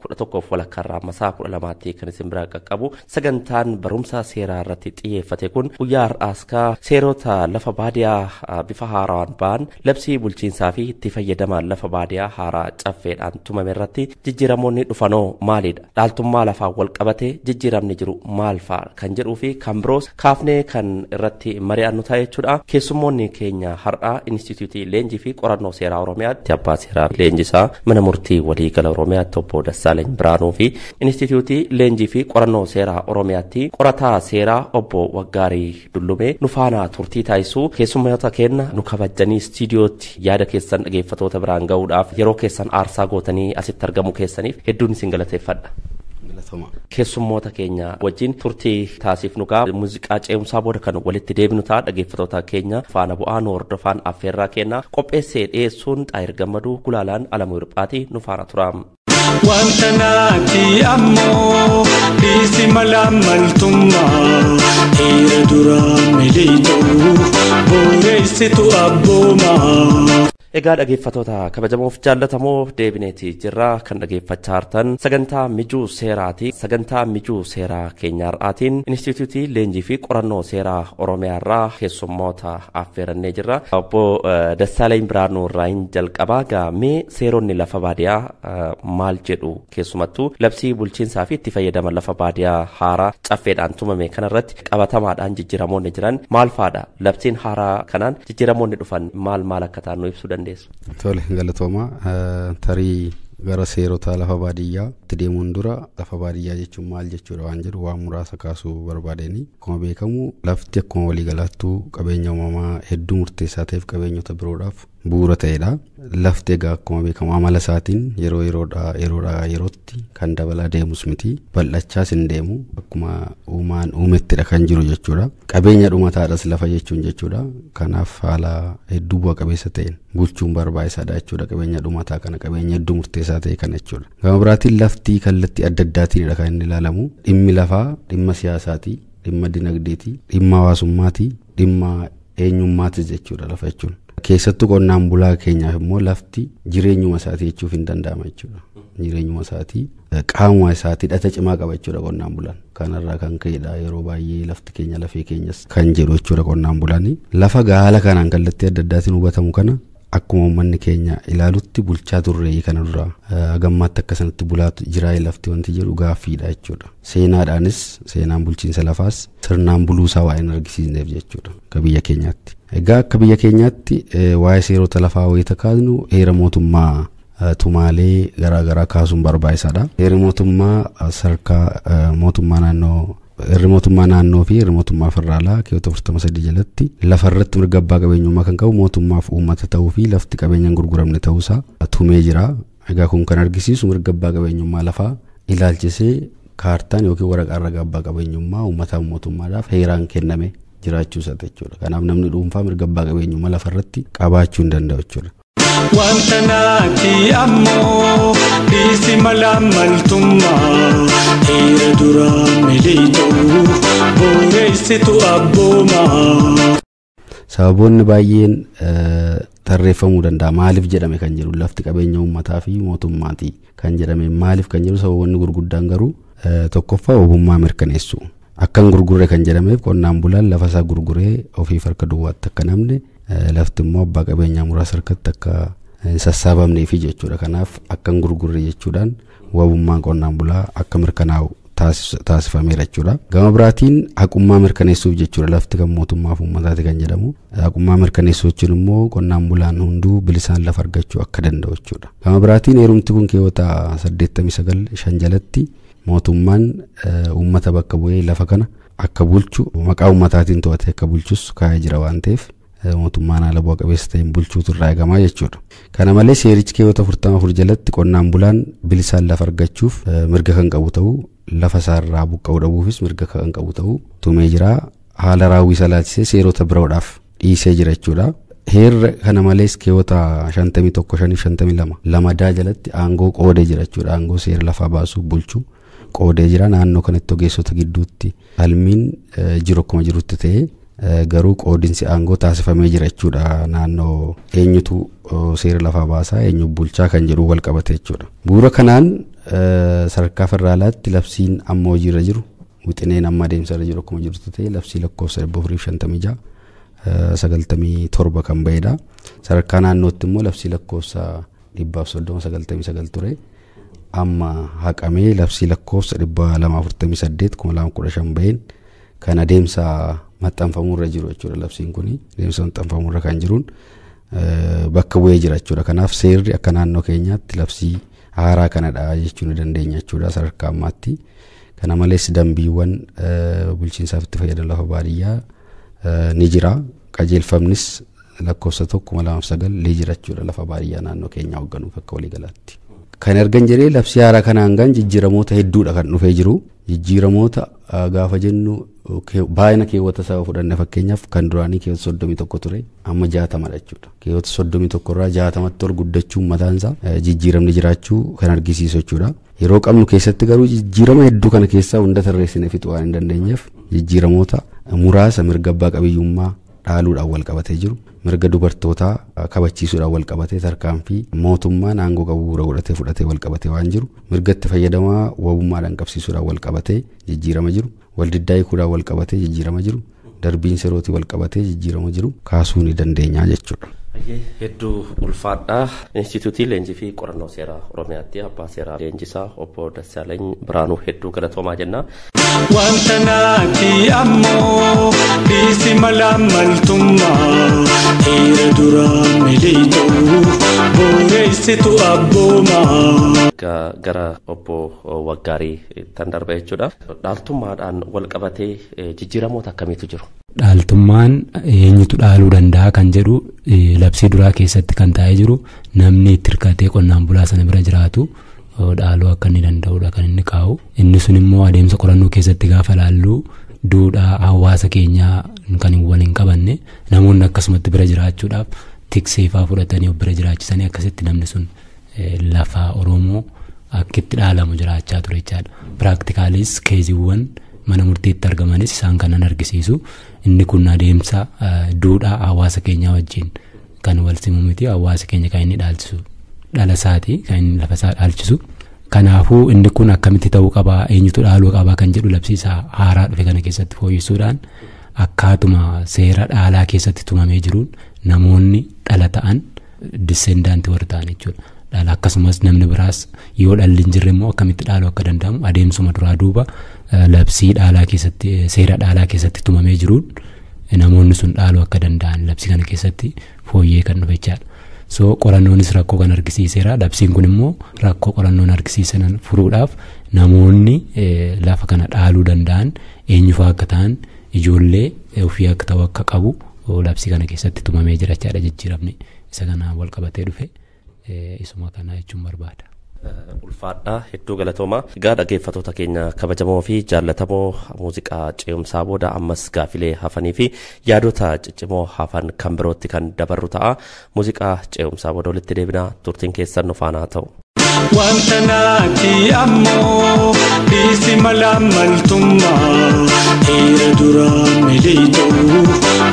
kudha tokkoof walakkaa irraa amma sa'a kudha lamaatti kan isin biraa qaqqabu sagantaan barumsa seeraa irratti xiyyeeffate kun guyyaa har'aas ka seerota lafa baadiyaa ah, bifa haaraan ba'an labsii bulchiinsaa fi itti fayyadama lafa baadiyaa haaraa caffeedhaan tumame irratti jijjiiramoonni dhufanoo maalidha dhaaltummaa lafaan wal qabate jijjiiramni jiru maal fa'a kan jedhuu fi kan biroos kaafnee kan irratti mari'annu ta'a jechuudha. Keessummoonni keenya har'aa Inistituutii Leenjii fi Qorannoo Seeraa Oromiyaatti abbaa seeraa leenjisaa mana murtii waliigala Oromiyaatti obbo Dassaalany Biraanuu fi Inistituutii Leenjii fi Qorannoo Seeraa Oromiyaatti qorataa seeraa obbo Waggaarii Dullumee nu faanaa turtii taasisuu keessummoota keenya nu kabajanii istiidiyootti Yaada keessan dhageeffatoota biraan ga'uudhaaf yeroo keessan aarsaa gootanii asitti argamuu keessaniif hedduun isin galateeffadha. Galatoomaa. Keessummoota keenya wajjin turtii taasifnu gaa muuziqaa ce'umsaa booda kan walitti deebinu ta'a dhageeffatoota keenya faana bu'aa nu hordofaan affeerraa keenya qopheessee dhiyeessuun xaayir gammaduu gulaalaan alamuu hirphaati nu faana tura. Wanta naati ammoo dhiisi mala maltummaa dhiira duraa miliixuu booreessitu abboomaa. Egaa dhageeffatoota kabajamoof jaallatamoo deebineeti jirra kan dhageeffachaa jirtan sagantaa mijuu seeraati sagantaa mijuu seeraa keenyaarraatiin inistituutii leenjii fi qorannoo seeraa oromiyaarraa keessummoota affeerannee jirra. Obbo Dassaalany Birhaanuu irraa hin jalqabaa gaa mee seeronni lafa baadiyaa maal jedhu keessumattuu labsii bulchiinsaa fi itti fayyadama lafa baadiyaa haaraa caffeedhaan tumame kanarratti qabatamaadhaan jijjiiramoonni jiran maal faadha labsiin haaraa kanaan jijjiiramoonni dhufan maal maal akka ta'an nu ibsuu dandeessu. Tole galatooma tarii gara seerota lafa baadiyyaa itti deemuun dura lafa baadiyyaa jechuun maal jechuudha waan jedhu waan muraasa kaasuu barbaadeenii. Akkuma beekamu lafti akkuma waliigalaattuu qabeenya uumamaa hedduu murteessaa ta'eef qabeenyota biroodhaaf bu'uura ta'edha. Lafti egaa akkuma beekamu amala isaatiin yeroo yeroodhaa yeroodhaa yerootti kan dabalaa deemus miti. Bal'achaas hin deemu. Akkuma uumaan uumettidha kan jiru jechuudha. Qabeenya dhumataadhas lafa jechuun jechuudha. Kanaaf haala hedduu bu'a qabeessa ta'een bulchuun barbaachisaadha jechuudha. Qabeenya dhumataa kana qabeenya hedduu murteessaa ta'e kana jechuudha. Gama biraatiin lafti kallattii adda addaatiinidha kan inni ilaalamu. Dhimmi lafaa dhimma siyaasaati, dhimma dinagdeeti, dhimma hawaasummaati, dhimma eenyummaatis jechuudha lafa jechuun. Keessattuu qonnaan bulaa keenyaaf immoo lafti jireenyuma isaatii jechuuf hin danda'ama jechuudha. Jireenyuma isaatii qaamuma isaatii hidhata cimaa qaba jechuudha qonnaan bulaan. Kanarraa kan ka'edha yeroo baay'ee lafti keenya lafee keenyas kan jedhu jechuudha qonnaan bulaan. Lafa gaala kanaan kallattii adda addaatiin hubatamu kana Akkuma uummanni keenya ilaalutti bulchaa turre kana dura hagammaatti akka sanatti bulaa jiraa lafti wanti jedhu gaaffiidha jechuudha. Seenaadhaanis seenaan bulchiinsa lafaas sirnaan buluusaa waa hin argisiisneef jechuudha akka biyya keenyaatti. Egaa akka biyya keenyaatti waa'ee seerota lafaa wayita kaasnu heera mootummaa tumaalee garaagaraa kaasuun barbaachisaadha. Heerri mootummaa sadarkaa mootummaa naannoo Irri mootummaa naannoo fi irri mootummaa federaalaa keewwata 43 jalatti lafa irratti mirga abbaa qabeenyummaa kan qabu mootummaaf uummata ta'uu fi lafti qabeenya hin gurguramne ta'uusaa tumee jira. Egaa kun kan argisiisu mirga abbaa qabeenyummaa lafaa ilaalchisee kaartaan yookiin waraqaan ragaa abbaa qabeenyummaa uummataa mootummaadhaaf heeraan kenname jiraachuu isaati jechuudha. Kanaaf namni dhuunfaa mirga abbaa qabeenyummaa lafa irratti qabaachuu hin danda'u jechuudha. Wanta naati ammoo dhiisi mala maltummaa dhiira duraa miliixuu booreessitu abboomaa. Sababoonni baay'een eh, tarreeffamuu danda'a. Maaliif jedhame kan jedhu lafti qabeenya uummataa fi mootummaati. kan jedhame maaliif kan jedhu sababoonni gurguddaan garuu tokkoffaa ogummaa mirkaneessu. Akkan gurgurre kan jedhameef qonnaan bulaan lafa isaa gurguree ofiif harka duwwaatti akka namne lafti immoo abbaa qabeenyaa muraasa harkatti akka hin sassaabamneefi jechuudha. Kanaaf akkan gurgurre jechuudhaan wabummaan qonnaan bulaa akka mirkanaa'u taasifameera jechuudha. Gama biraatiin haqummaa mirkaneessuuf jechuudha lafti kan mootummaaf uummataati kan jedhamu. Haqummaa mirkaneessuu jechuun immoo qonnaan bulaan hunduu bilisaan lafa argachuu akka danda'u jechuudha. Gama biraatiin heerumti kun keewwata 89 shan jalatti mootummaan uummata bakka bu'ee lafa kana akka bulchu maqaa uummataatiin to'atee akka bulchus kaa'ee jira waan ta'eef mootummaan haala bu'a qabeessa ta'een bulchuutu irraa eegamaa jechuudha. Kana malee seerichi keewwata 44 jalatti qonnaan bulaan bilisaan lafa argachuuf mirga kan qabu ta'uu lafa isaarraa buqqa'uu dhabuufis mirga kan qabu ta'uu tumee jira. Haala raawwii isaa ilaalchisee seerota biroodhaaf dhiisee jira jechuudha. Heerri kana malees keewwata 51 52 lamadaa jalatti aangoo qoodee jira jechuudha. Aangoo seera lafaa baasuu bulchuu qoodee jira naannoo kanatti ogeessota gidduutti falmiin jiru akkuma jirutti ta'ee garuu qoodinsi aangoo taasifamee jira jechuudha naannoo eenyutu seera lafaa baasaa eenyu bulchaa kan jedhu wal qabate jechuudha. Bu'uura kanaan sadarkaa federaalaatti labsiin amma hojiirra jiru wixineen amma adeemsarra jiru akkuma jirutti ta'e labsii lakkoofsa 456 97 kan ba'edha. Sadarkaa naannootti immoo labsii lakkoofsa 130 99 ture. amma haqamee labsii lakkoofsa 248 2015 baheen kan adeemsa maxxanfamuurra jiru jechuudha labsiin kun adeemsa maxxanfamuurra kan jiruun bakka bu'ee jira jechuudha kanaaf seerri akka naannoo keenyaatti labsii haaraa kanadha jechuu ni dandeenya jechuudha sadarkaa ammaatti kana malees dambiiwwan bulchiinsaaf itti fayyadama lafa baadiyyaa ni jira qajeelfamnis lakkoofsa tokko kuma lamaaf sagal leejirachuudha lafa baadiyyaa naannoo keenyaa hoogganuuf akka waliigalaatti. Kan ergan jedhee labsii haaraa kanaan gan jijjiiramoota hedduudha kan dhufee jiru. Jijjiiramoota gaafa jennu baay'ina keewwata isaa fudhanne fakkeenyaaf kan duraanii keewwata soddomii tokko ture amma jaatamadha jechuudha. Keewwata soddomii tokko irraa jaatamatti ol guddachuun mataan isaa jijjiiramni jiraachuu kan argisiisu jechuudha. Yeroo qabnu keessatti garuu jijjiirama hedduu kana keessaa hunda tarreessine fixuu waan hin dandeenyeef jijjiiramoota muraasa mirga abbaa qabiyyummaa dhaaluudhaan walqabatee jiru mirga dubartootaa kabachiisuudhaan walqabatee tarkaanfii mootummaan aangoo qabu bu'uura godhatee fudhatee walqabatee waan jiru mirga itti fayyadamaa wabummaadhaan qabsiisuudhaan walqabatee jijjiirama jiru waldiddaa hiikuudhaan walqabatee jijjiirama jiru darbiin serootii walqabatee jijjiirama jiru kaasuu ni dandeenya jechuudha. Hedduu ulfaadhaa Institiyuutii Leenjii fi Qorannoo Seeraa Oromiyaatti Abbaa Seeraa Leenjisaa Obbo Dassaalany Biraanuu hedduu galatoomaa jenna. Wanta naati ammoo dhiisi mala maltummaa dhiira duraa miliitu booreessitu abboomaa. Ga- gara obbo Waggaarii tan darba jechuudha. Dhaaltummaadhaan wal qabatee eh, jijjiiramoota akkamiitu jiru? dhaaltummaan eenyutu dhaaluu danda'a kan jedhu eh, labsii duraa keessatti kan taa'ee jiru namni itti hirkatee qonnaan bulaa sana bira jiraatu eh, dhaaluu akka inni danda'udha kan inni kaa'u. Inni sun immoo adeemsa qorannoo keessatti gaafa ilaallu duudhaa hawaasa keenyaa kan wal hin qabanne namoonni akkasumatti bira jiraachuudhaaf tikseefaa fudhatanii of bira jiraachisanii akkasitti namni sun lafa Oromoo akkitti dhaalamu jiraachaa ture jechaadha. Piraaktikaalis keeziiwwan mana murtiitti argamanis isaan kanan argisiisu inni kun adeemsa duudhaa hawaasa keenyaa wajjin kan wal simu miti hawaasi keenya kan inni dhaalchisu dhala isaati kan inni lafa isaa dhaalchisu. Kanaafuu inni kun akkamitti ta'uu qabaa eenyutu dhaaluu qabaa kan jedhu labsiisa haaraa dhufe kana keessatti fooyyessuudhaan akkaatuma seera dhaalaa keessatti tumamee jiruun namoonni dhala ta'an dissendaanti warri ta'an jechuudha. Dhala akkasumas namni biraas yoo dhalli hin jirre immoo akkamitti dhaaluu akka danda'amu adeemsuma duraa duuba labsii dhaalaa keessatti seera dhaalaa keessatti tumamee jiruun namoonni sun dhaaluu akka danda'an labsii kana keessatti fooyyee kan dhufe jechaadha. So qorannoonis rakkoo kan argisiiseera. Labsiin kun immoo rakkoo qorannoon argisiisan furuudhaaf namoonni lafa kana dhaaluu danda'an eenyufaa akka ta'an ijoollee ofii akka ta'u akka qabu labsii kana keessatti tumamee jira jechaadha jijjiiramni isa kanaan wal qabatee dhufe. isuma kanaa jechuun barbaada. ulfaadhaa hedduu galatoomaa egaa dhaggeeffatoota keenya kabajamoo fi jaallatamoo muuziqaa ce'umsaa booda ammas gaafilee hafanii fi yaadota ciccimoo hafan kan birootti kan dabarru ta'a muuziqaa ce'umsaa booda walitti deebinaa turtiin keessan nu faanaa ta'u. Wanta naati ammoo dhiisi mala maltummaa dhiira duraa miliixuu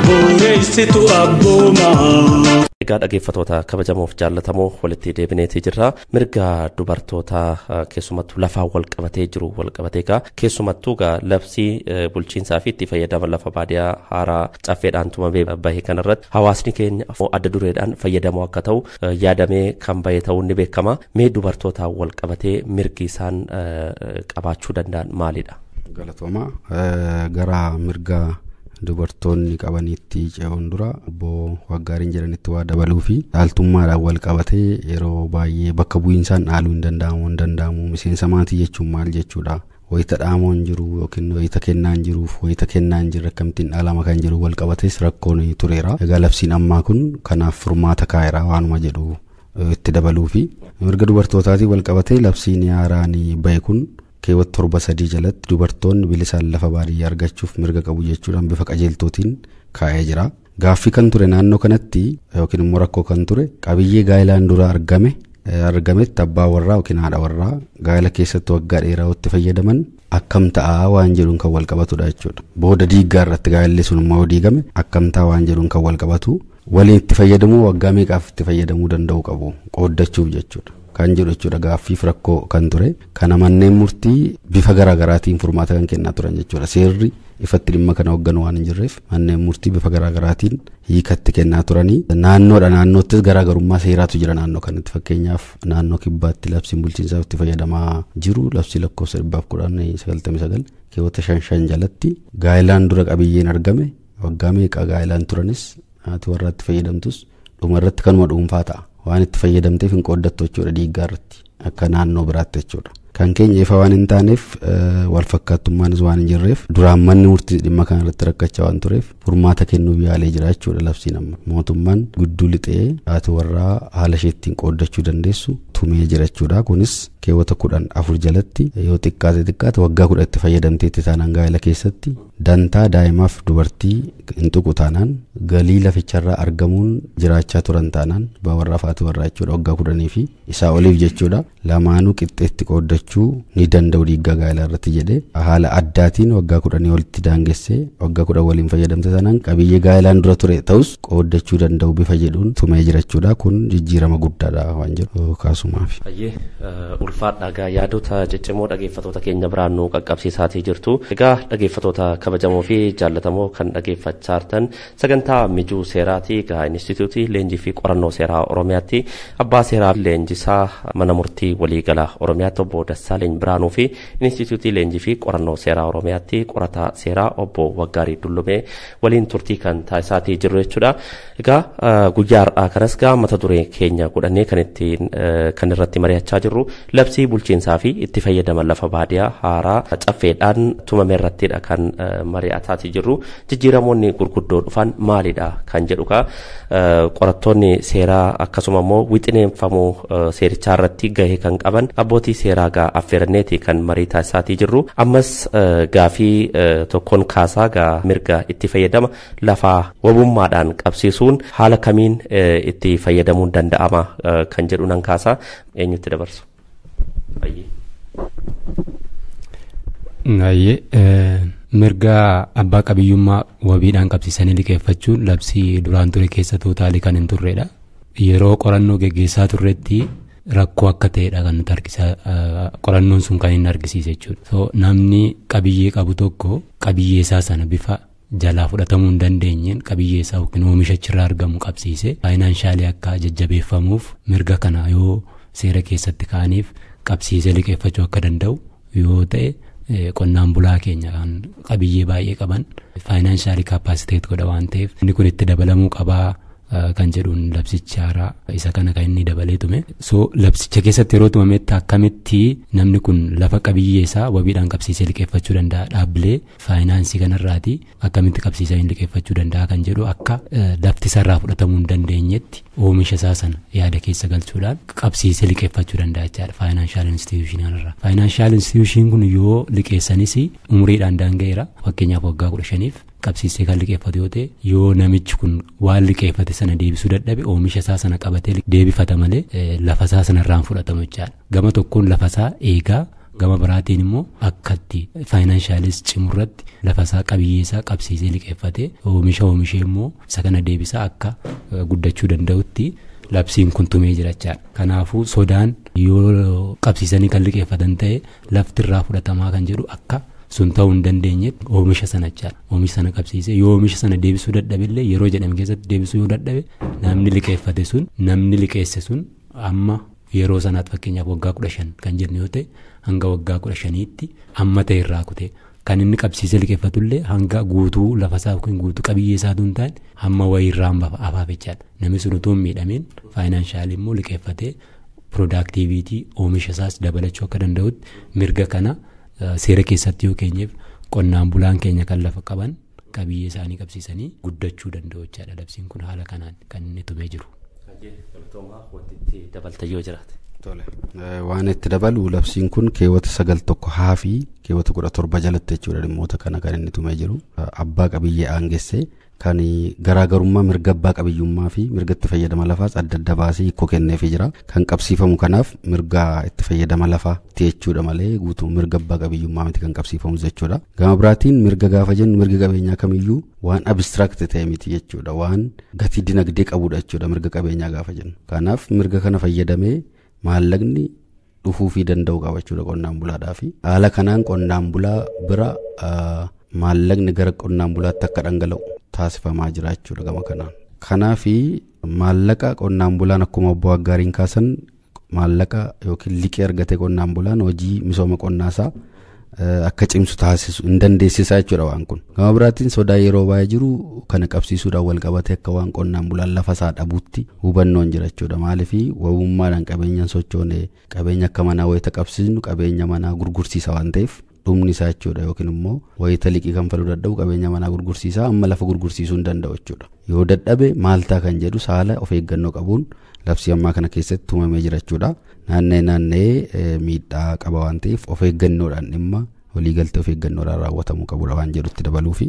booreessitu abboomaa. Egaa dhaggeeffattoota Dubbatoota kabajamoof jaallatamoo walitti deebineetii jirra. Mirga dubartootaa eh, keessumattuu lafaan wal qabatee jiru wal qabatee egaa keessumattuu egaa labsii eh, bulchiinsaa fi itti fayyadama lafa baadiyaa haaraa caffeedhaan tumamee bahe kanarratti hawaasni keenya afoo adda dureedhaan fayyadamoo akka ta'u eh, yaadamee kan bahe ta'uun ni beekama. Mee dubartootaan wal qabatee mirgi isaan eh, eh, qabaachuu danda'an maalidha? Galatooma. Eh, Gara mirga dubartoonni qabaniitti ce'uun dura obbo Waggaariin jedhanitti waa dabaluu fi dhaaltummaadhaan wal qabatee yeroo baay'ee bakka bu'iinsaan dhaaluu hin danda'amu hin danda'amu miseensa maatii jechuun maal jechuudha wayita dhaamoo hin jiru yookiin wayita kennaa hin jiruuf wayita kennaa hin jirre akkamittiin dhaalama kan jiru wal qabatees rakkoon tureera egaa labsiin ammaa kun kanaaf furmaata kaa'eera waanuma jedhu itti dabaluu fi mirga dubartootaatiin wal qabatee labsiin haaraan bahe kun Keewwata 7 3 jalatti dubartoonni bilisaan lafa baadiyyaa argachuuf mirga qabu jechuudhaan bifa qajeeltootiin kaa'ee jira. Gaaffii kan ture naannoo kanatti yookiin immoo rakkoo kan ture qabiyyee gaa'ilaan dura argame argametti abbaa warraa yookiin haadha warraa gaa'ila keessatti waggaa dheeraa itti fayyadaman akkam ta'a waan jedhuun kan wal qabatudha jechuudha. Booda diiggaa irratti gaa'illi sun immoo diigame akkam ta'a waan jedhuun kan wal qabatu. waliin itti fayyadamuu waggaa meeqaaf itti fayyadamuu danda'uu qabu qooddachuuf jechuudha. Kan jedhu jechuudha gaaffiif rakkoo kan ture kana manneen murtii bifa garaa garaatiin furmaata kan kennaa turan jechuudha. Seerri ifatti dhimma kana hoogganu waan hin jirreef manneen murtii bifa garaa garaatiin hiikatti kennaa turanii naannoodha naannoottis garaa garummaa seeraatu jira naannoo kanatti fakkeenyaaf naannoo kibbaatti labsiin bulchiinsaaf itti fayyadamaa jiru labsii lakkoofsa dhibbaaf kudhan sagaltamii sagal keewwata shan shan jalatti gaa'ilaan dura qabiyyeen argame Waggaa meeqa gaa'ilaan turanis haati warraa itti fayyadamtus dhuma irratti kanuma dhuunfaa ta'a. Waan itti fayyadamteef hin qooddattu jechuudha dhiiggaa irratti akka naannoo biraatti jechuudha. Kan keenya ifa waan hin taaneef wal fakkaattummaanis waan hin jirreef duraan manni murtii dhimma kana irratti rakkachaa waan tureef furmaata kennuuf yaalee jira jechuudha labsiin amma. Mootummaan gudduu lixee haati warraa haala ishee ittiin qooddachuu dandeessu tumee jira jechuudha. Kunis keewwata kudhan afur jalatti yoo xiqqaate xiqqaate waggaa kudha itti fayyadamteetti taanaan gaa'ela keessatti Dantaa daa'imaaf dubartii hin tuqu taanaan galii laficharraa argamuun jiraachaa turan taanaan abbaa warraaf haati warraa jechuudha waggaa kudhanii fi isaa oliif jechuudha lamaanuu qixxeetti qooddachuu ni danda'u dhiiggaa gaa'elaa irratti jedhee haala addaatiin waggaa kudhanii olitti daangessee waggaa kudhan waliin fayyadamte taanaan qabiyyee gaa'elaan dura ture ta'us qooddachuu danda'u bifa jedhuun tumee jirachuudha kun jijjiirama guddaadha waan jedhu kaasumaaf. Ayyee ulfaadha egaa yaadota ciccimoo dhageeffatoota keenya biraan nu qaqqabsiisaatii jirtu. Egaa dhageeffatoota kabajamoo fi jaallatamoo kan dhageeffachaa jirtan sagantaa mijuu seeraati egaa Inistituutii Leenjii fi Qorannoo Seeraa Oromiyaatti abbaa seeraa leenjisaa mana murtii waliigala Oromiyaatti obbo Dassaaleny Biraanuu fi Inistituutii Leenjii fi Qorannoo Seeraa Oromiyaatti qorataa seeraa obbo Waggaarii Dullumee waliin turtii kan taasisaatii jirru jechuudha. Egaa guyyaa har'aa kanas gaa mata duree keenya godhannee kan ittiin kan irratti mari'achaa jirru labsii bulchiinsaa fi itti fayyadama lafa baadiyaa haaraa caffeedhaan tumame irrattidha kan mari'ataatii jirru. Jijjiiramoonni gurguddoo dhufan maalidha kan jedhu gaa qorattoonni seeraa akkasuma immoo wixineenfamuu seerichaa irratti gahee kan qaban abbootii seeraa gaa affeeranneeti kan marii taasisaatii jirru ammas gaafii tokkoon kaasaa gaa mirga itti fayyadama lafaa wabummaadhaan qabsiisuun haala kamiin itti fayyadamuun danda'ama kan jedhu nan kaasaa eenyutti dabarsu. Hayyee mirga abbaa qabiyyummaa wabiidhaan qabsiisanii liqeeffachuun labsii duraan ture keessa tuutaalii kan hin turredha. Yeroo qorannoo geggeessaa turretti rakkoo akka ta'edha kan nuti argisaa qorannoon sun kan inni argisiise jechuudha. So, namni qabiyyee qabu tokko qabiyyee isaa sana bifa jalaa fudhatamuu hin dandeenyeen qabiyyee isaa yookiin oomisha achirraa argamu qabsiisee faayinaanshaali akka jajjabeeffamuuf mirga kana yoo seera keessatti kaa'aniif qabsiisee liqeeffachuu akka danda'u yoo ta'e qonnaan bulaa keenya kan qabiyyee baay'ee qaban faayinaanshaali kaappaasiteet godha waan ta'eef inni kun itti dabalamuu qabaa kan jedhuun labsicha haaraa isa kana kan inni dabalee tume so labsicha keessatti yeroo tumametti akkamitti namni kun lafa qabiyyee isaa wabiidhaan qabsiisee liqeeffachuu danda'a dhaabbilee faayinaansii kanarraati akkamitti qabsiisaa hin liqeeffachuu danda'a kan jedhu akka lafti isaarraa fudhatamuu hin dandeenyetti oomisha isaa sana yaada keessa galchuudhaan qabsiisee liqeeffachuu danda'a jechaadha faayinaanshaal instituushinal irraa. Faayinaanshaal instituushiin kun yoo liqeessanis umuriidhaan daanga'eera fakkeenyaaf waggaa kudha shaniif qabsiisee kan liqeeffatu yoo ta'e yoo namichi kun waan liqeeffate sana deebisuu dadhabe oomisha isaa sana qabatee deebifata malee lafa isaa sanarraan fudhatamu jechaadha. Gama tokkoon lafa isaa eegaa Gama biraatiin immoo akkatti faayinaanshaaliis cimu irratti lafa isaa qabiyyee isaa qabsiisee liqeeffatee oomisha oomishee immoo isa kana deebisaa akka guddachuu danda'utti labsiin kun tumee jirachaadha. Kanaafuu sodaan yoo qabsiisanii kan liqeeffatan ta'e lafti irraa fudhatamaa kan jedhu akka sun ta'uu hin dandeenyetti oomisha sana jechaadha. Oomisha sana qabsiisee yoo oomisha sana deebisuu dadhabillee yeroo jedhame keessatti deebisuu yoo dadhabe namni liqeeffate sun namni liqeesse sun amma Yeroo sanaatti fakkeenyaaf waggaa kudha shan kan jennu yoo ta'e hanga waggaa kudha shaniitti amma ta'e irraa kutee kan inni qabsiisee liqeeffatullee hanga guutuu lafasaa yookiin guutuu qabiyyee isaa duun ta'an hamma wayii irraa hamba afaaf jechaadha. Namni sun utuu hin miidhamiin faayinaanshaali immoo liqeeffatee piroodaaktiiviitii oomisha isaas dabalachuu akka danda'utti mirga kana seera keessatti yoo keenyeef qonnaan bulaan keenya kan lafa qaban qabiyyee isaanii qabsiisanii guddachuu danda'u jechaadha labsiin kun haala kanaan kan inni tumee jiru. dabalta yoo jiraate. Tole. Waan itti dabalu labsiin kun keewwata sagal tokko haa fi keewwata kudha torba jalatti jechuudha dhimmoota kana kan inni tumee jiru. Abbaa qabiyyee aangessee kan garaagarummaa mirga abbaa qabiyyummaa fi mirga itti fayyadama lafaas adda adda baasee hiikoo kenneefii jira. Kan qabsiifamu kanaaf mirga itti fayyadama lafaa jechuudha malee guutuu mirga abbaa qabiyyummaa miti kan qabsiifamus jechuudha. Gama biraatiin mirga gaafa jennu mirga qabeenyaa kamiyyuu waan abstract ta'e miti jechuudha. Waan gatii dinagdee qabudha jechuudha mirga qabeenyaa gaafa jennu. Kanaaf mirga kana fayyadamee maallaqni dhufuufii danda'u qaba jechuudha qonnaan bulaadhaa fi haala kanaan qonnaan bulaa bira maallaqni gara qonnaan bulaatti akka dhangala'u taasifamaa jira jechuudha gama kanaan. Kanaaf maallaqa qonnaan bulaan akkuma obbo Aggaariin kaasan maallaqa yookiin liqii argate qonnaan bulaan hojii misooma qonnaa isaa akka cimsu taasisu hin dandeessisa jechuudha waan kun. Gama biraatiin sodaa yeroo baay'ee jiru kana qabsiisuudhaan wal qabatee akka waan qonnaan bulaan lafa isaa dhabuutti hubannoon jira jechuudha. Maaliif wabummaadhaan qabeenyaan sochoone qabeenya akka manaa wayita qabsiisnu qabeenya manaa gurgursiisa waan ta'eef dhumni isaa jechuudha yookiin immoo wayita liqii kanfaluu dadhabu qabeenya manaa gurgursiisaa amma lafa gurgursiisuu hin danda'u jechuudha yoo dadhabe maaltaa kan jedhu saala of eeggannoo qabuun labsii ammaa kana keessatti tumamee jira jechuudha naanna'ee naanna'ee miidhaa qaba waan ta'eef of eeggannoodhaan dhimma waliigaltee of eeggannoodhaan raawwatamuu qabudha waan jedhutti dabaluufi.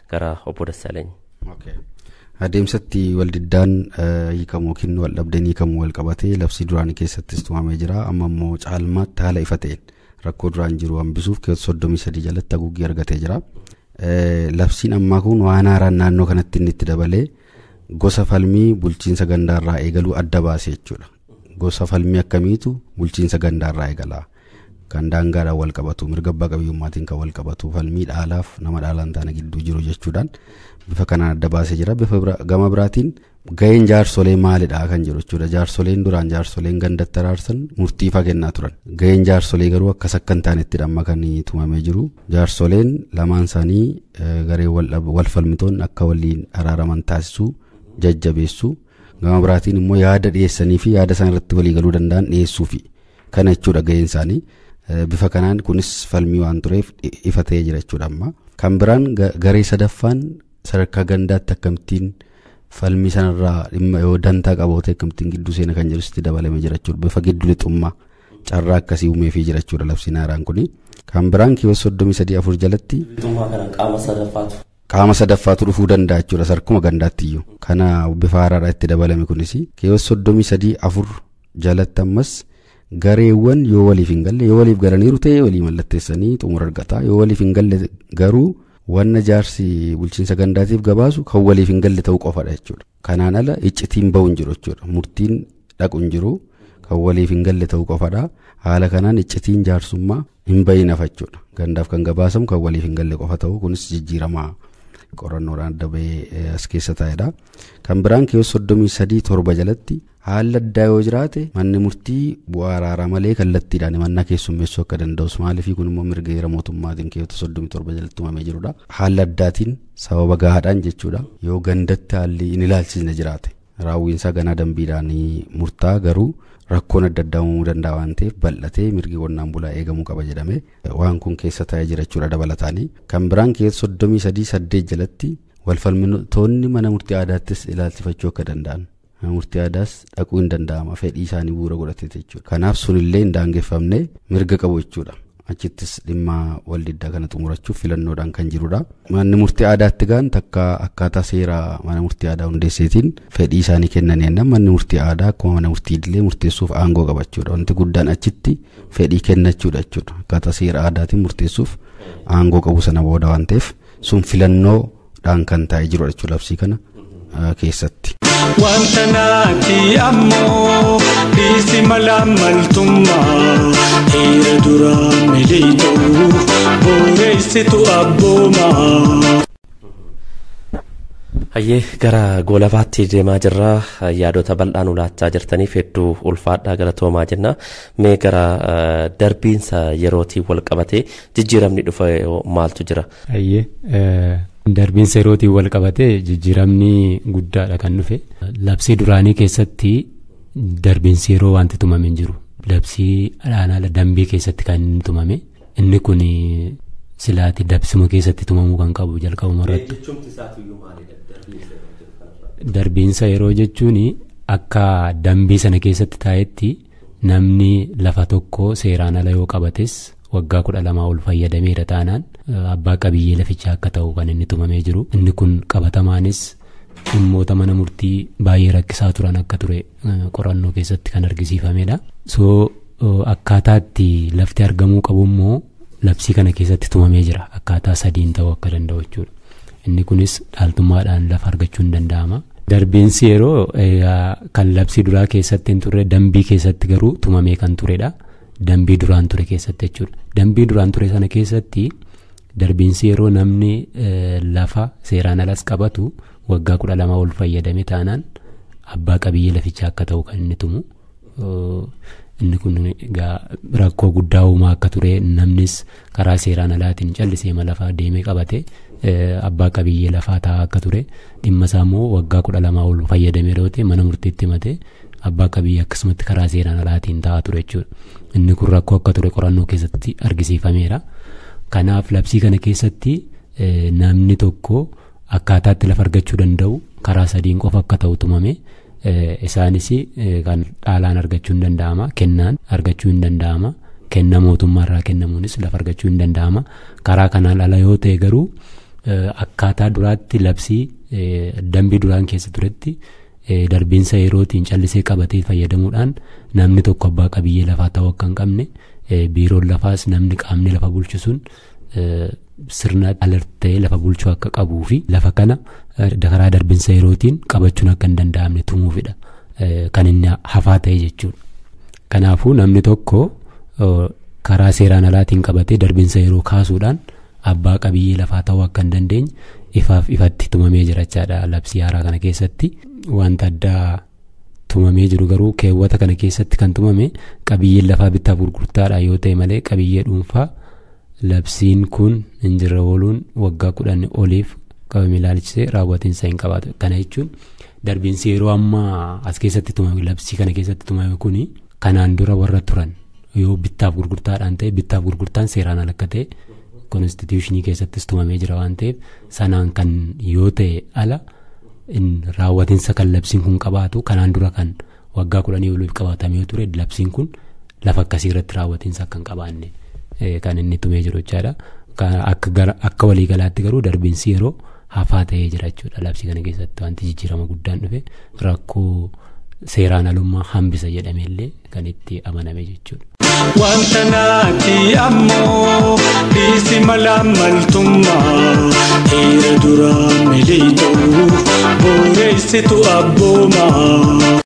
gara obbo Dassaalany. Okay. Adeemsatti waldiddaan eh, hiikamu yookiin waldhabdeen hiikamu wal qabatee labsii duraanii keessattis tumamee jira. Amma immoo caalmaatti haala ifa ta'een rakkoo duraan jiru hambisuuf keewwata soddomii sadii jalatti haguuggii argatee jira. Eh, Labsiin ammaa kun waan haaraan naannoo kanatti inni itti dabalee gosa falmii bulchiinsa gandaarraa eegaluu adda baase jechuudha. Gosa falmii akkamiitu bulchiinsa gandaarraa eegala. kan daangaadhaan wal qabatu mirga abbaa qabiyyummaatiin kan wal qabatu falmii dhaalaaf nama dhaalaan taana gidduu jiru jechuudhaan bifa kanaan adda baasee jira bifa bira- gama biraatiin ga'een jaarsolee maalidha kan jiru jechuudha jaarsoleen duraan jaarsoleen gandatti araarsan murtii faa kennaa turan ga'een jaarsolee garuu akkas akka hin taanetti amma kan tumamee jiru jaarsoleen lamaan isaanii eh, garee wal dhab- wal falmitoonni akka waliin araaraman taasisuu jajjabeessuu gama biraatiin immoo yaada dhiyeessanii fi yaada isaan irratti walii galuu danda'an dhiyeessuufi. Kana jechuudha gaheen isaanii. Bifa kanaan kunis falmii waan tureef ifa ta'ee jira jechuudha amma. Kan biraan garee sadaffaan sadarkaa gandaatti akkamittiin falmii sanarraa dhimma yoo dantaa qabootee akkamittiin gidduu seena kan jedhu sitti dabalamee jira jechuudha. Bifa giddu lixummaa carraa akkasii uumeefii jira jechuudha labsiin haaraan kuni. Kan biraan kiyoos soddomii sadii afur jalatti. Lixummaa kana qaama sadaffaatu. Qaama sadaffaatu dhufuu danda'a jechuudha sarkuma gandaatti iyyuu. Kana bifa haaraadhaa itti dabalame kunis kiyoos soddomii sadii afur jalatti ammas gareewwan yoo waliif hin galle yoo waliif galaniiru ta'e walii mallatteessanii xumura argata yoo waliif hin galle garuu wanna jaarsi bulchiinsa gandaatiif gabaasu kan waliif hin galle ta'uu qofadha jechuudha kanaan ala iccitiin ba'u hin jiru jechuudha murtiin dhaqu hin jiru kan waliif hin galle ta'uu qofadha haala kanaan iccitiin jaarsummaa hin ba'iin hafa jechuudha gandaaf kan gabaasamu kan waliif hin galle qofa ta'uu kunis jijjiiramaa qorannoodhaan adda ba'ee as keessa taa'edha kan biraan keewwata soddomii sadii torba jalatti Haalli addaa yoo jiraate manni murtii bu'aa araaraa malee kallattiidhaan himannaa keessummeessuu akka danda'us maaliifii kun immoo mirga heera mootummaatiin keewwata 37 jalatti tumamee jirudha. Haala addaatiin sababa gahaadhaan jechuudha. Yoo gandatti haalli hin ilaalchisne jiraate raawwiinsaa ganaa dambiidhaan murtaa'a garuu rakkoon adda addaa uumamuu danda'a waan ta'eef bal'atee mirgi qonnaan bulaa eegamuu qaba jedhame waan kun keessa taa'ee jira jechuudha dabalataanii. Kan biraan keessa 33 8 jalatti walfalmitoonni mana murtii aadaattis ilaalchifachuu akka danda'an mana murtii aadaas dhaquu hin danda'ama fedhii isaanii bu'uura godhateeti jechuudha. Kanaaf sunillee hin daangeffamne mirga qabu jechuudha. Achittis dhimma waldiddaa kana xumurachuuf filannoodhaan kan jirudha. Manni murtii aadaatti gaan takka akkaataa seera mana murtii aadaa hundeesseetiin fedhii isaanii kennan jennaan manni murtii aadaa akkuma mana murtii idilee murteessuuf aangoo qaba jechuudha. Wanti guddaan achitti fedhii kennachuudha jechuudha. Akkaataa seera aadaatiin murteessuuf aangoo qabu sana booda waan ta'eef sun filannoo dhaan kan taa'ee jirudha jechuudha labsii kana keessatti. Wanta naati ammoo dhiisi mala maltummaa dhiira duraa miliitu booreessitu abboomaa. Hayyee gara goolabaatti deemaa jirra yaadota bal'aan ulaachaa jirtaniif hedduu ulfaadhaa galatoomaa jenna mee gara darbiinsa yerootiin wal qabatee jijjiiramni dhufe maaltu jira Hayyee darbiinsa yerootiin wal qabatee jijjiiramni guddaadha kan dhufe. Labsii duraanii keessatti darbiinsi yeroo wanti tumame hin jiru. Labsii alaanaala dambii keessatti kan inni tumame. Inni kun silaati dabsuma keessatti tumamuu kan qabu jalqabuma irratti. Darbiinsa yeroo jechuun akka dambii sana keessatti taa'etti Namni lafa tokko seeraan ala yoo qabates waggaa kudha lamaa ol fayyadameera taanaan abbaa qabiyyee lafichaa akka ta'u kan inni tumamee jiru. Inni kun qabatamaanis dhimmoota mana murtii baay'ee rakkisaa turan akka ture qorannoo keessatti kan argisiifamedha. So akkaataatti lafti argamuu qabu immoo labsii kana keessatti tumamee jira akkaataa sadiin ta'uu akka danda'u jechuudha. Inni kunis dhaaltummaadhaan lafa argachuun danda'ama. Darbiinsi yeroo kan labsii duraa keessatti hin turre dambii keessatti garuu tumamee kan turedha. Dambii duraan ture keessatti jechuudha. Dambii duraan ture sana keessatti darbiinsi yeroo namni lafa seeraan alas qabatu waggaa kudha lama ol fayyadame taanaan abbaa qabiyyee lafichaa akka ta'u kan inni tumu. Inni kun egaa rakkoo guddaa uumaa akka ture namnis karaa seeraan alaatiin callisee ma lafaa deemee qabate abbaa qabiyyee lafaa taa'aa akka ture dhimma isaa immoo waggaa kudha lamaa ol fayyadamee dhoote mana murtiitti himatee abbaa qabiyyee akkasumatti karaa seeraan alaatiin taa'aa ture jechuudha. Inni kun rakkoo akka ture qorannoo keessatti argisiifameera. Kanaaf labsii kana keessatti namni tokko akkaataatti lafa argachuu danda'u karaa sadiin qofa akka ta'u tumame Isaanis kan dhaalaan argachuu hin danda'ama kennaan argachuu hin danda'ama kenna mootummaa irraa kennamuunis lafa argachuu hin danda'ama karaa kanaan ala yoo ta'e garuu akkaataa duraatti labsii dambii duraan keessa turetti darbiinsa yerootiin callisee qabatee fayyadamuudhaan namni tokko abbaa qabiyyee lafaa ta'uu akka hin qabne biiroon lafaas namni qaamni lafa bulchisuun sirna alert ta'ee lafa bulchuu akka qabuu fi lafa kana karaa darbinsa yerootiin qabachuun akka hin danda'amne tumuufidha kan inni hafaa ta'e jechuudha. Kanaafuu namni tokko karaa seeraan alaatiin qabatee darbinsa yeroo kaasuudhaan abbaa qabiyyee lafaa ta'uu akka hin dandeenye ifaaf ifatti tumamee jirachaadha labsii haaraa kana keessatti wanta addaa. tumamee jiru garuu keewwata kana keessatti kan tumame qabiyyeen lafaa bittaaf gurgurtaadha yoo ta'e malee qabiyyee dhuunfaa labsiin kun hin jirre ooluun waggaa kudhan oliif qabame ilaalchisee raawwatiinsa hin qabaatu kana jechuun darbiinsi yeroo ammaa as keessatti tumame labsii kana keessatti tumame kuni kanaan dura warra turan yoo bittaaf gurgurtaadhaan ta'e bittaaf gurgurtaan seeraan ala akka ta'e konstituushinii keessattis tumamee jira waan ta'eef sanaan kan yoo ta'e ala in raawwatinsa kan labsiin kun qabaatu kanaan dura kan waggaa kudhanii oliif qabaatame yoo ture labsiin kun lafa akkasii irratti raawwatinsa akka hin qabaanne eh, kan inni tumee jiru jechaadha. Ka- Akka gara- akka waliigalaatti garuu darbiinsi yeroo hafaa ta'ee jira jechuudha labsii kana keessatti wanti jijjiirama guddaan dhufe rakkoo seeraan alummaa hambisa jedhameellee kan itti amaname jechuudha. Wanta naati ammoo dhiisi mala maltummaa dhiira duraa miliixuu booreessitu abboomaa.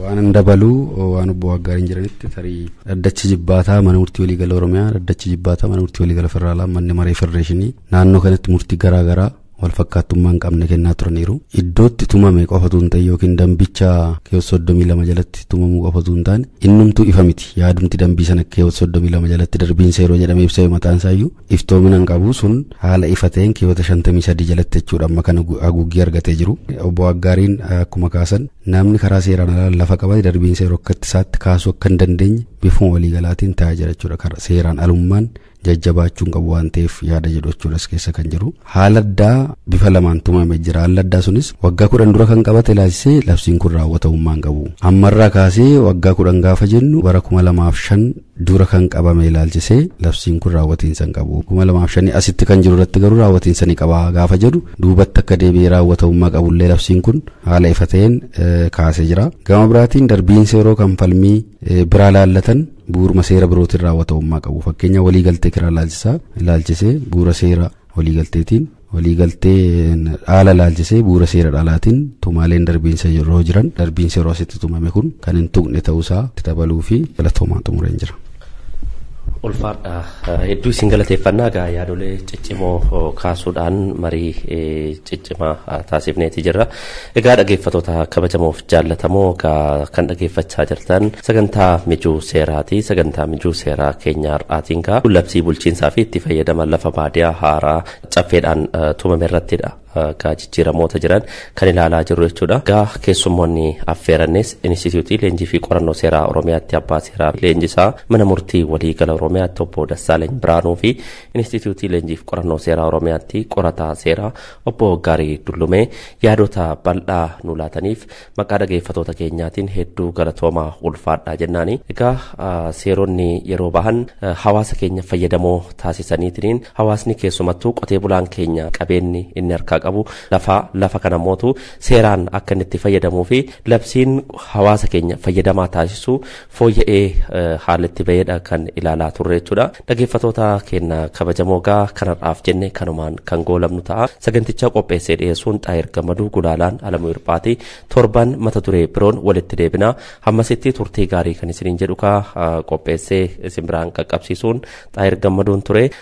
Waan dabaluu waan obbo Waggaarii hin jiranitti tarii dhaddachi jibbaataa mana murtii waliigala Oromiyaa dhaddachi jibbaataa mana murtii waliigala federaalaa manni maree federeeshinii naannoo kanatti murtii garaa garaa walfakkaattummaa hin qabne kennaa turaniiru. Iddootti tumame qofatu hin ta'e yookiin dambicha keewwata soddomii lama jalatti tumamuu qofatu hin taane innumtuu ifa miti. Yaadumti dambii sana keewwata soddomii lama jalatti darbiinsa yeroo jedhamee ibsame mataan isaayyuu iftoomina hin qabu sun haala ifa ta'een keewwata shantamii sadii jalatti jechuudha amma kan haguuggii argatee jiru. Obbo Aggaariin akkuma kaasan namni karaa seeraan alaa lafa qabate darbiinsa yeroo akka itti isaatti kaasuu akka hin dandeenye bifuma waliigalaatiin taa'aa jira jechuudha. Seeraan alummaan jajjabaachuun qabu waan ta'eef yaada jedhu jechuudha as keessa kan jiru. Haala addaa bifa lamaan tumamee jira. Haalli addaa sunis waggaa kudhan dura kan qabate ilaalchisee labsiin kun raawwatamummaa hin qabu. Ammarraa kaasee waggaa kudhan gaafa jennu bara kuma lamaaf shan dura kan qabame ilaalchisee labsiin kun raawwatiinsa hin qabu. Kuma lamaaf shanii asitti kan jiru irratti garuu raawwatiinsa ni qaba gaafa jedhu duubatti akka deebi'ee raawwatamummaa qabullee labsiin kun haala ifa ta'een kaasee jira. Gama biraatiin darbiinsa yeroo kan falmii biraa laallatan bu'uuruma seera birootiin raawwatamummaa qabu fakkeenya waliigaltee kiraa ilaalchisaa ilaalchisee bu'uura seera waliigalteetiin waliigaltee dhaala ilaalchisee bu'uura seera dhaalaatiin tumaaleen darbiinsa yeroo jiran darbiinsa yeroo asitti tumame kun kan hin tuqne ta'uusaa itti dabaluu fi galatoomaa xumureen jira. ulfaadha hedduu isin galateeffannaa egaa yaadolee ciccimoo kaasuudhaan marii ciccimaa taasifneeti jirra. Egaa dhageeffattoota kabajamoof jaallatamoo egaa kan dhageeffachaa jirtan sagantaa mijuu seeraati. Sagantaa mijuu seeraa keenya har'aatiin egaa labsii bulchiinsaa fi itti fayyadama lafa baadiyaa haaraa caffeedhaan eh, tumame irrattidha. eh, Egaa jijjiiramoota jiran kan ilaalaa jirru jechuudha. Egaa keessummoonni affeerannis Inistituutii Leenjii fi Qorannoo Seeraa Oromiyaatti abbaa seeraa fi leenjisaa mana murtii waliigala Oromiyaatti obbo Dassaaleny Biraanuu fi Inistituutii Leenjii fi Qorannoo Seeraa Oromiyaatti qorataa seeraa Obbo Gaarii Dullumee yaadota bal'aa nu laataniif maqaa dhageeffatoota keenyaatiin hedduu galatoomaa ulfaadhaa jennaani. Egaa seeronni yeroo bahan hawaasa keenya fayyadamoo taasisaniitiin hawaasni keessumattuu qotee bulaan keenya qabeenyi inni harkaa qabu lafa lafa kana mootu seeraan akka inni itti fayyadamuu fi labsiin hawaasa keenya fayyadamaa taasisu fooyya'ee haala itti ba'eedha kan ilaalaa turre jechuudha. Dhageeffatoota keenya kabajamoo gaa kanarraaf jenne kanumaan kan goolabnu ta'a. Saganticha qopheessee dhiyeessuun Xaayir Gammaduu Gulaalaan Alamuu Hirphaatii torban mata duree biroon walitti deebina. Hammasitti turtii gaarii kan isiniin jedhu kaa qopheessee isin biraan qaqqabsiisuun Xaayir Gammaduun ture.